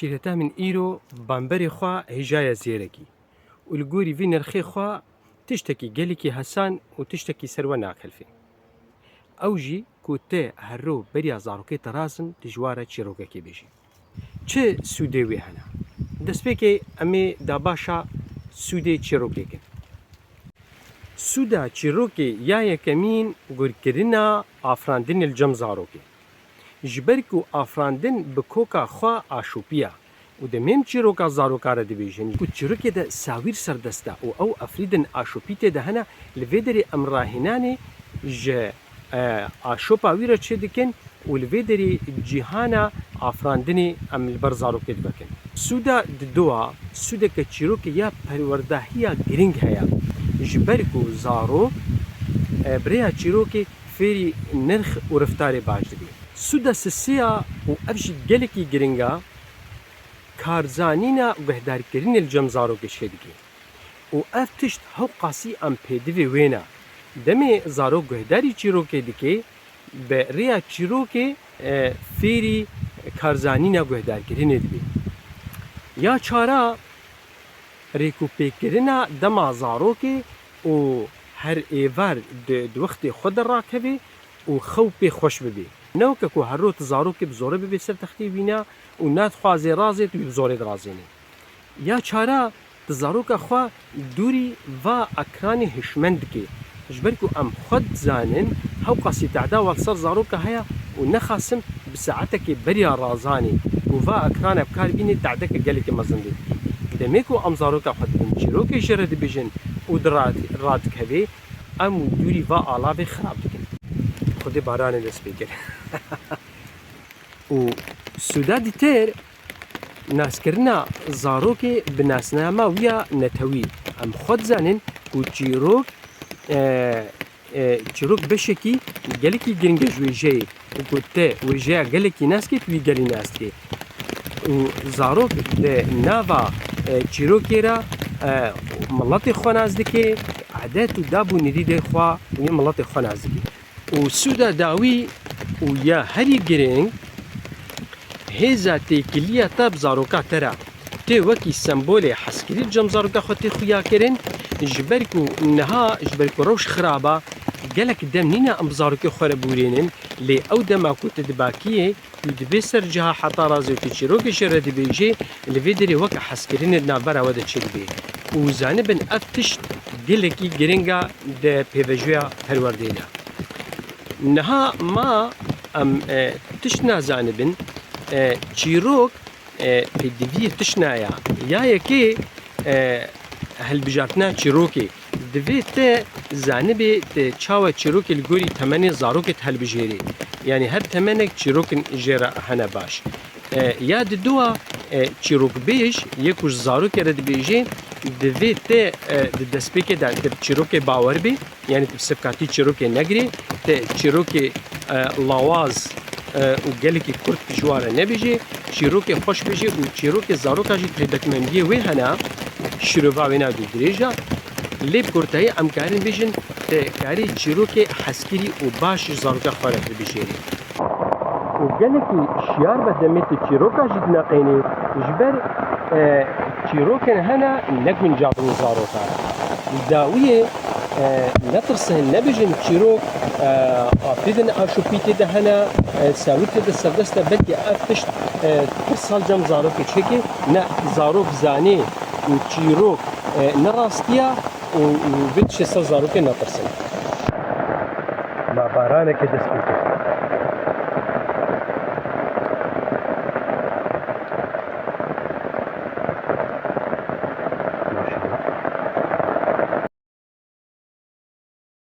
Şîreta min îro bamberê xwe hêjaye zêrekî û li gorî vî nirxê xwe tiştekî gelekî hesan û tiştekî ser we nakelfê. Ew jî ku te herro beriya zarokê te razin dijwar e çîrokekê bêjî. Çi sûdê wî hene? Destpêkê em ê da baş a sûdê çîrokê kin. Sûda çîrokê ya yekemîn gurkirina afirandinê li cem zarokê. Ji ber ku afirandin bi koka xwe aşopî ye. Û demêm çîroka zaroka re dibêjin ku çîrokê de sawîr serdest e û ew efrîdin aşopîtê de hene, li vê derê em rahênanê ji aşopa wî re çê dikin û li vê derê cîhana afirandinê em li ber zarokê divekin. Sûda di dowa Sûdeke çîrokê ya perwerdehiya girîng heye, ji ber ku zarok bi rêya çîrokê, fêrî nirx û riftarê baş dibî. Sûda sisiya û ev jî gelekî giring a, karzanîna guhdarkirinê li cem zarok êşkê dike û ev tişt hewqasî em pêdivê wêne. Demê zarok guhdarî çîrokê dike, bi rêya çîrokê fêrî karzanîna guhdarkirinê dibî. Ya çar a, rêkûpêkkirina dema zarokê û her êvar di wextê xwe de rakeve û xew pê xweş bibe. Ne weke ku her roj tu zarokê bi zorê bibe ser textê wî ne û nadixwaze razê tu wî bi zorê dirazênî. Ya çara tu zaroka xwe dûrî va ekranê hişmend dike. Ji ber ku em xwe dizanin hewqasî tehda wal ser zaroka heye û nexasim Bi saetekê beriya Razanê ku va ekrane bi kar bînê tadeke gelekî mezin bê. Demê ku em zaroka xwe dibin çîrokê jê re dibêjin û di radikevê em wî dûrî va alavê xirab dikin. Xwedê baranê dest pê kir û sûda dî têr naskirina zarokê bi nasnama wî ya netewî. Em xwe dizanên ku çîrok Çîrok beşekî gelekî giring e ji wêjeyê û ku te wêjeya gelekî nas kê tu wî gelî nas dikî û zarok di nava çîrokê re miletê xwe nas dikê, edet û dab û nirîdê xwe yên miletê xwe nas dikê. Û sûda dawî û ya herî giring hêza têkiliya te bi zaroka te re Tê wekî sembolê hezkirî cem zaroka xwe tê xuya kirin, ji ber ku niha ji ber ku rewş xirab e, gelek dem nîne em bi zarokê xwe re bûrînin, lê ew dema ku tu dibakiyê, tu dibê ser ciha heta razê û tu çîrokê jê re dibêjî, li vê derê weke hezkirinê di navbera we de çêdibê û zanibin ev tişt gelekî giring e di pêvajoya perwerdeyê de. Niha ma em tişt nazanibin, çîrok, Pê divî tişna ya. Ya yekê hilbijartina çîrokê. Divê te zanibê te çawa çîrokê li gorî temenê zarokê di hilbijêrî. Yanî her temenek çîrokin jê re hene baş. Ya di dua çîrokbêj yê ku ji zarokê re dibêjê divê te di destpêkê de te bi çîrokê bawer bê. Yanî tu bi sivkatî çîrokê negirê, tu çîrokê lawaz û gelekî kurt ji wan re nebêjê, çîrokê xweş bêjê û çîrokê zaroka jî taybetmendiyê wê hene, şîrova wê nayê ku dirêj e. Lê bi kurtayî em karin bêjin tu karî çîrokê hezkirî û baş ji zaroka xwe re hilbijêrî. û gelekî şiyar be demê tu çîroka jî dineqênî ji ber çîrokên hene neguncabin û zarokan. Li dawiyê netirsin, nebêjin çîrok apê de ne aşopîtê de hene, sewitê de serdest e belkî ev tişt pir sal cem zarokê çêkê ne zarok zanê û çîrok ne rastiya, û vê tişê ser zarokê natirsin. Ma baranekê dest pê kir.